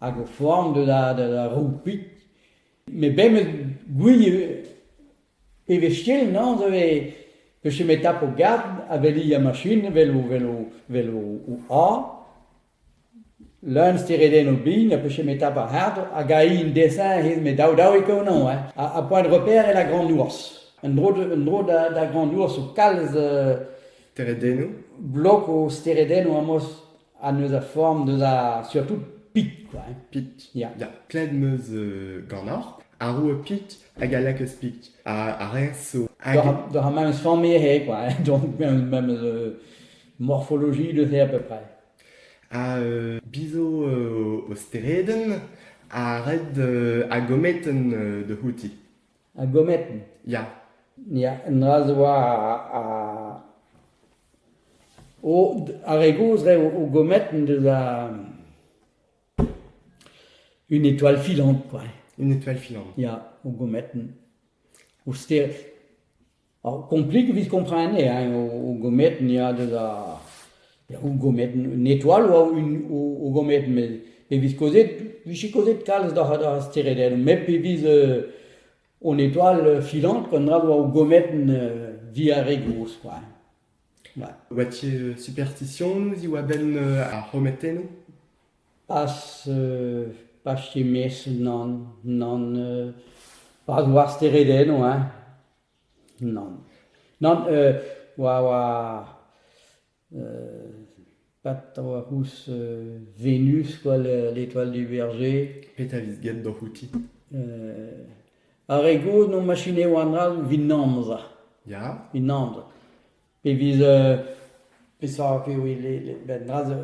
hag o foan da da roupit. Met bemdez gouie e vez ken nañs a vez peus ket met tap ho garg ha veli ar machin vel o vel o vel o a. Leun steredenn o bin ha peus ket met tap ar c'hard hag aï un desin he met daou daou e konañ hein. Ha point de repère e la grande ours. Un dro un dro da grande ours o kalz... Steredennoù? Blog o steredennoù amos ha neus a form deus ar surtout pit quoi. hein. Pit. Ya. Ya, pled meus euh, ganeoc'h. Ar roue Pit hag a lakaas Pit. A, a reas so. Hag... Doc'h a- doc'h a memes form eo quoi. hein. donc memes euh, morphologie de c'est à peu près. a euh, bizo euh, o steredenn, a red euh, a gometen euh, da c'houti. Ha gomet. Ya. Ya, un dra zo war ar... O, ar re gozh re o, o gomet deus ar... Une étoile filante, quoi. Une étoile filante. Ya, o gomet. O ster... Komplik evit kompren eo eo gometenn ya deus ar gometenn, un etoal oa o gometenn met pe vez kaozeet, vije kaozeet kalz d'ar steredennoù met pe vez an etoal filant koun dra oa o gometenn diare gozh kwa. Oa ti superstisionoù ziv a-benn ar c'hometennoù? Pas pas ket mes nann nann pas war steredennoù hein. Nann, nann euh oa oa euh pat a oa ouzh euh Venus quoi l'étoile du berger. Petra evit get doc'h outi? Euh ar re gozh no machineoù an all evit amzer, Ya? evit amzer. Pe vez euh peseurt eo le le ben dra zo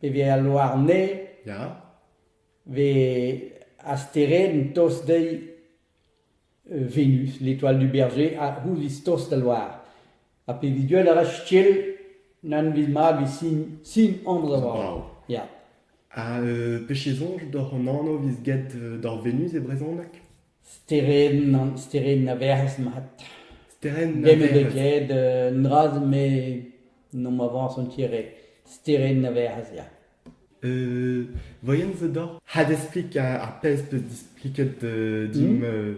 pe vez al loarne Ya? vez a stered tost dezhi Venus, l'étoile du berger, a c'houlz tost al loar. Ha pevit deuet a ra Stiel n'anvit mat evit sin sin anv da varv. Brav. Ya. Ha euh, pezh soñj doc'h an anv vez get euh, doc'h Venus e brezhoneg? Sterenn an sterenn a verz mat. Sterenn a Dem ebet verz. ket, euh, un dra me n'omp avañs an tiere. Sterenn a verz, ya. Euh, voyons the door. Ha d'explique ar pezh 'peus displiket euh, dimp. euh,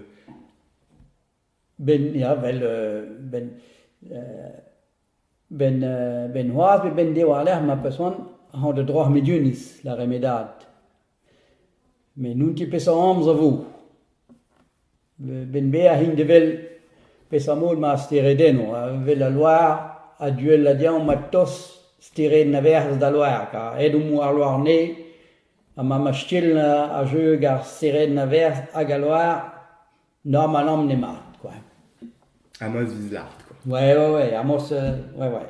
Ben ya, vel euh, ben euh, ben euh, ben c'hoazh pe ben diwar-lerc'h ma peus c'hoant hañ da droac'h Mediunis, la remedad. Met n'on ket peseurt amzer 'vo. Ben-Beher int evel peseurt-mod ma steredenno, evel al loar a-du all da diaoù ma toz stered Naverzh d'al loar, kar aet omp war loar-nez ha ma mastell a jeu ag ar stered Naverzh hag al loar, normalamp n'emañ kwa. Amos 'vit lart kwa. Ouais ouais ouais Amos ouais ouais.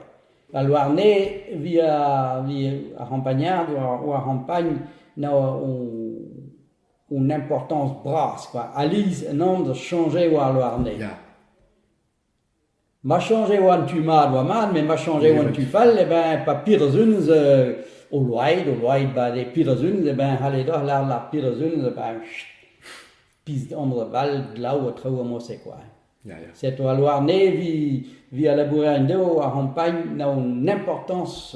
Al loar-nez 'vit ar c'hampagner, war ar c'hampagn 'na o Hon importanañs bras kwa, Aliz en amzer chañje e oa ar Louarnez. Ya. Ma chañje e oa an tu mat e oa mat, met ma chañje e oa an tu fall, eh ben pa piruzunez euh, o loaid, o loaid ba de piruzunez, eh ben c'halle doc'h lâret ar piruzunez, eh ben chut, pizh under da bal, glav ha traoù a mose kwa. Ya, ya. Setu al Louarnez vi, vi a labourer en-dehou, ar c'hampagn n'a un importance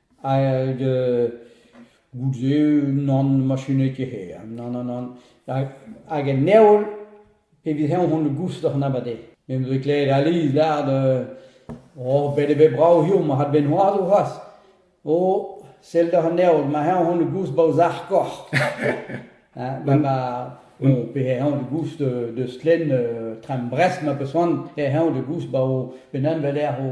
Hag goude nann machinez ket hir, nann nann nann. Hag en heol, evit heñ on goust oc'h anat eo. Me 'm eus klevet aliz lâret oh bet eo bet brav hiziv ma c'had bet noazh c'hoazh. Oh sell doc'h an heol, ma heñ on goust 'ba o sac'h-korf. Ma ma bon pe heñ on goust deus stlenn tram Brest ma peus c'hoant, eh heñ on goust 'ba o benn-an-vel-lec'h o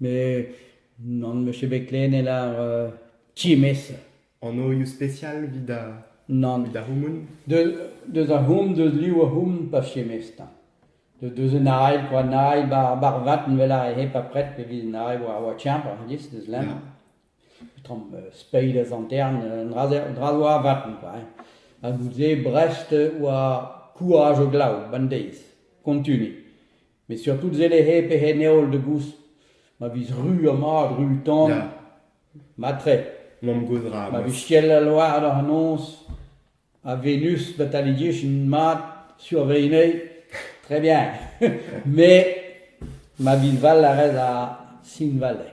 Mais non, monsieur Beclen est là euh, times. Anoioù spesial evit ar Non. evit ar c'houmoun. De, deus ar houm, deus liv ar houm, pa fiemez ta. De, deus un ail, kwa an ail, bar, bar vat, vel ar hep apret, pe vid an ail oa, oa tiamp, ar dis, deus lem. Ya. Tramm euh, speid az antern, euh, un dra-se- un dra oa vaten, quoi. hein. Ha nous e Brest oa courage au glav, ban deiz, kontuni. Met surtout sellet eo pegen heol da goust ma vez ru ha mat, ru tan. Ya. Matre, Mamm-gozh ra. ma vez ciel al loar da c'hanoz, ha Venus bet alidiechin mat sur va ene, très bien. Mais ma vis val a rez a Sinvale.